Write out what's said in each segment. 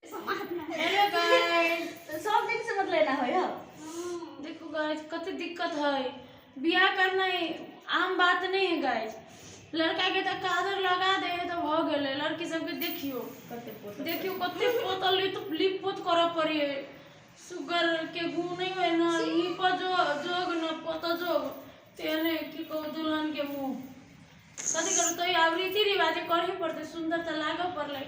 hello guys सब दिन से मतलब एना होय हो देखो गाइस कते दिक्कत है बियाह करना ही आम बात नहीं है गाइस लड़का के तक कादर लगा दे तो भ गेले लड़की सब के देखियो कते पोता देखियो कते पोतल ली तो लिप पोत कर पड़ी है शुगर के गुण नहीं है ना लिप जो जोग ना पोत जोग तेने की को दुल्हन के मुंह कथी करू तो आब रीति रिवाज करही पड़ते सुंदर तो लागऽ पड़ले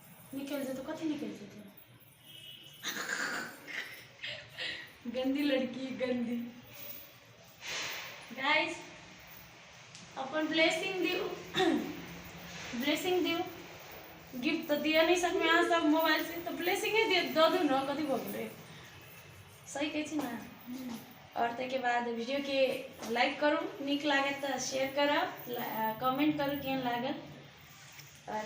निकलि जेतौ कथी निकलि जेतौ गंदी लड़की गंदी गाइस अपन ब्लेसिंग दियो ब्लेसिंग दियो गिफ्ट तो दिया नहीं सकते अहाँ सब मोबाइल से तो ब्लेसिंग ही दियो दो दू ना कथी भऽ गेलै सही कहै छी ना और ताहिके बाद वीडियो के लाइक करू नीक लागत तऽ शेयर करब कमेंट करू केहन लागल और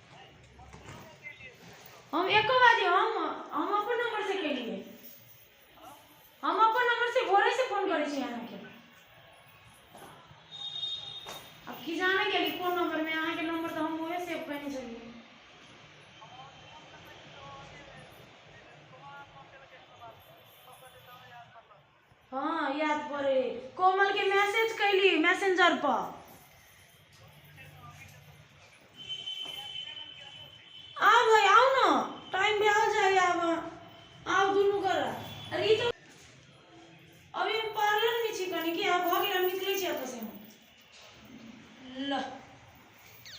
हम एको बाजी हम हम अपन नंबर से केलिए हम अपन नंबर से भोरे से फोन करे छी अहाँ के अब की जाने के लिए फोन नंबर में अहाँ के नंबर तो हम ओहे सेव करने छलिए हाँ याद पड़े कोमल के मैसेज कैली मैसेंजर पर आओ भाई आओ ना टाइम भी आ जाए आब आओ दुनू कर अरे ई तो अभी हम पार्लर में छी कनी कि आब भऽ गेल हम निकलै छी एतऽ से हम ल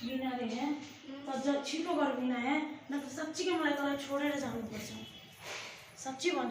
बिना रे हैं तो जब छिपो कर बिना है ना तो सच्ची के मलाई तोरा छोड़े रहे जाने पर सच्ची बन